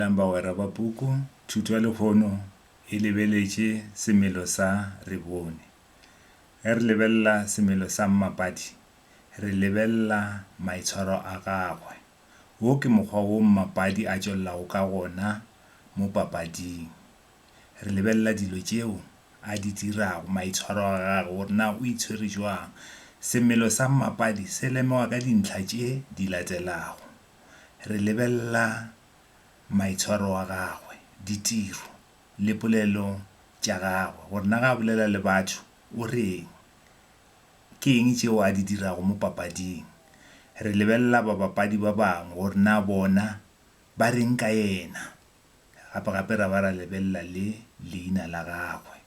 Dumelang bagwera ba puku, thuto ya lehono e lebeletše semelo sa re bone. Ge re lebelela semelo sa mmapadi, re lebelela maitshwaro a gagwe. Wo ke mokgwa wo mmapadi a tšwelelago ka gona mo papading. Re lebelela dilo tšeo a di dirago, maitshwaro a gagwe gore na o itshwere jwang. Semelo sa mmapadi se lemoga ka dintlha tše di latelago, re lebelela maitshwaro a gagwe, ditiro, le polelo tša gagwe, gore na ge a bolela le batho o re'ng. Ke eng tšeo a di dirago mo papading? Re lebelela babapadi ba bangwe gore na bona ba re'ng ka yena. Gape-gape ra ba ra lebelela le leina la gagwe.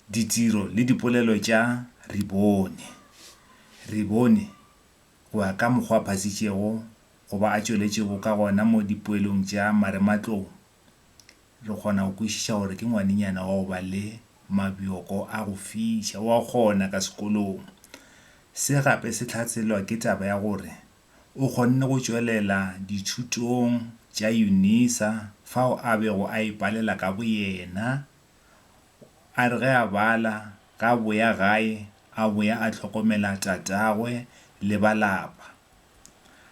Ditiro le dipolelo tša Ribone. Ribone go ya ka mokgwa a phasitšego go ba a tšweletšego ka gona mo dipoelong tša marematlou, re kgona go kwešiša gore ke ngwanenyana wa go ba le mabjoko a go fiša, wa kgona ka sekolong. Se gape se hlaselwa ke taba ya gore o kgonne go tšwelela dithutong tša Unisa fao a bego a ipalela ka boyena A re ge a bala, ge a boya gae, a boya a hlokomela tatagwe le ba lapa.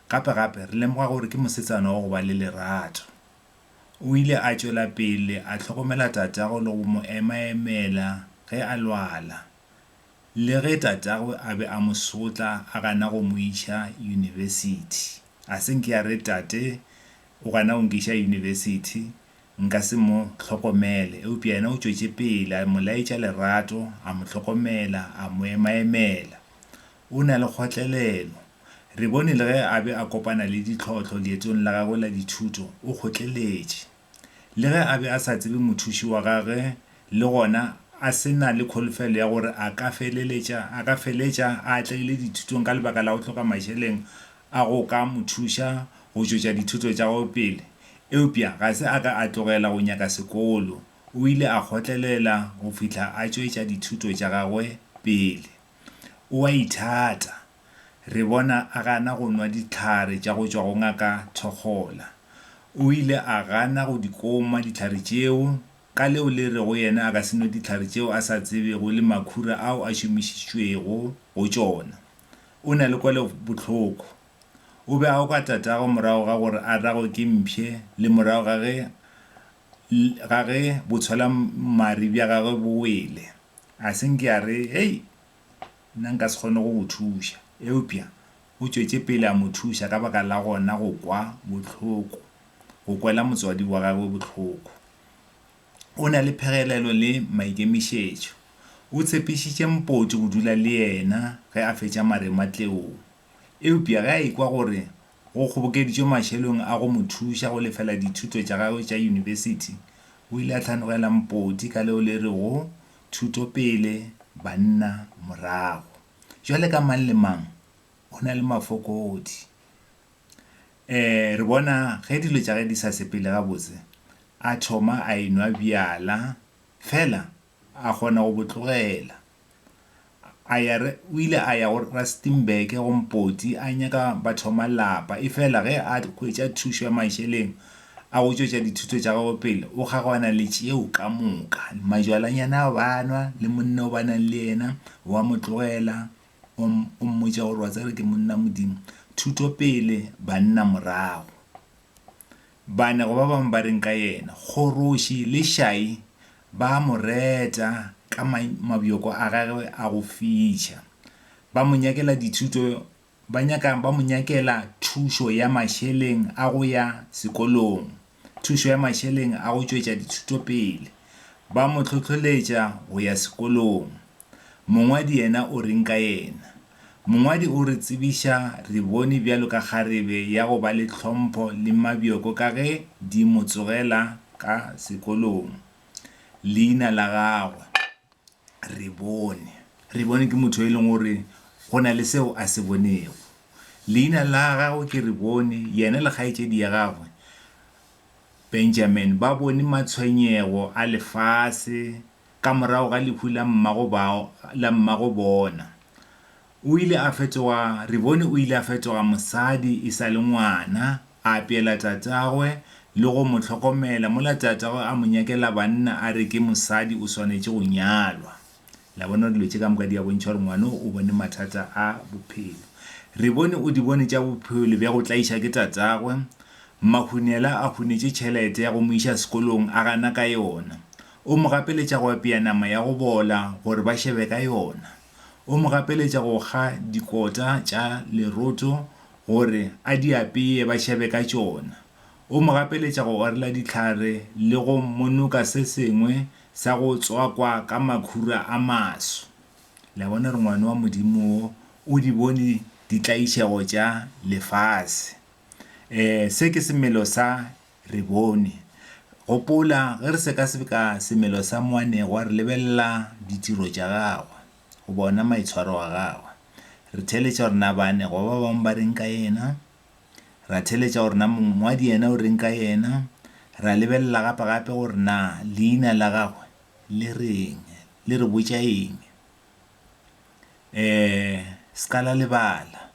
Gape-gape, re lemoga gore ke mosetsana wa go ba le lerato. O ile a tšwela pele a hlokomela tatagwe le go mo ema-emela ge a lwala, le ge tatagwe a be a mo sotla a gana go mo iša yunibesithi. A se nke a re, Tate o gana go nkiša yunibesithi. Nka se mo hlokomele. Eupša yena o tšwetše pele, a mo laetša lerato, a mo hlokomela, a mo emaemela. O na le kgotlelelo. Re bone le ge a be a kopana le ditlhohlo leetong la gagwe la dithuto, o kgotleletše. Le ge a be a sa tsebe Mothuši wa gagwe le gona a se na le kholofelo ya gore a ka feleletša a ka feletša a atlegile dithutong ka lebaka la go hloka mašeleng a go ka mo thuša go tšwetša dithuto tša gagwe pele, Eupša ga se a ka a tlogela go nyaka sekolo, o ile a kgotlelela go fihla a tšwetša dithuto tša gagwe pele. O a ithata. Re bona a gana go nwa dihlare tša go tšwa go Ngaka Thokgola. O ile a gana go di koma dihlare tšeo, ka leo le rego yena a ka se nwe dihlare tšeo a sa tsebego le makhura ao a šomišitšwego go tšona. O na le kwelobohloko. O be a oka tatago morago ga gore a ragwe ke mpshe le morago ga ge ga ge botshwalammari bja gagwe bo wele. A se nke a re, Hei, nna nka se kgone go go thuša. Eupša o tšwetše pele a mo thuša ka baka la gona go kwa bohloko, go kwela motswadi wa gagwe bohloko. O na le phegelelo le maikemišetšo. O tshepišitše Mpoti go dula le yena ge a fetša maremmatleong. Eupja ge a ekwa gore go kgobokeditšwe mašelong a go mo thuša go lefela dithuto tša gagwe tša yunibesithi, o ile a hlanogela mpoti ka leo le rego, Thuto pele, banna morago. Bjale ka mang le mang o na le mafokodi. Ee, re bona ge dilo tša ge di sa sepele gabotse, a thoma a enwa bjala. Feela a kgona go bo tlogela. A ya, o ile a ya go Rustenburg, go Mpoti, a nyaka ba thoma lapa. Efela ge a hwetša thušo ya mašeleng a go tšwetša dithuto tša gagwe pele, o kgaogana le tšeo ka moka. Majwalanyana ao ba a nwa le monna o ba nang le yena o a mo tlogela, o, o mmotša gore, Wa tseba ke monna, Modimo. Thuto pele, banna morago. Banego ba bangwe ba reng ka yena? Kgoroši le šai ba a mo reta ka mabjoko a gagwe a go fiša. Ba mo nyakela dithuto, ba nyaka, ba mo nyakela thušo ya mašeleng a go ya sekolong, thušo ya mašeleng a go tšwetša dithuto pele. Ba mo hlohloletša go ya sekolong. Mongwadi yena o reng ka yena? Mongwadi o re tsebiša, Re bone bjalo ka kgarebe ya go ba le tlhompho le mabjoko ka ge di mo tsogela ka sekolong. Leina la gagwe re bone. Re bone ke motho yo e leng gore go na le seo a se bonego. Leina la gagwe ke re bone. Yena le kgaetšedi ya gagwe Benjamin ba bone matshwenyego a lefase ka morago ga lehu la mmago bao, la mmago bona. O ile a fetoga, re bone o ile a fetoga mosadi e sa le ngwana, a apeela tatagwe le go mo hlokomela, mola tatagwe a mo nyakela banna a re ke mosadi o swanetše go nyalwa. La bona gore dilo tše ka moka di a bontšha gore ngwano o bone mathata a bophelo. Re bone o di bone tša bophelo bja go tlaiša ke tatagwe. Mahunela a hunetše tšhelete ya go mo iša sekolong, a gana ka yona. O mo gapeletša go apea nama ya go bola gore ba šebe ka yona. O mo gapeletša go kga dikota tša leroto gore a di apee ba šebe ka tšona. O mo gapeletša go orela dihlare le go monoka se sengwe sa go tswakwa ka makhura a maswe. Le a bona gore Ngwana wa Modimo wo o di bone ditlaišego tša lefase. Ee, se ke semelo sa re bone. Gopola, ge re sekaseka semelo sa moanegwa, re lebelela ditiro tša gagwe goba ona maitshwaro a gagwe. Re theeletša gore na baanegwa ba bangwe ba reng ka yena, ra theeletša gore na mongwadi yena o reng ka yena, ra lebelela gape-gape gore na leina la gagwe le reng, le re botša eng. Um se ka la lebala.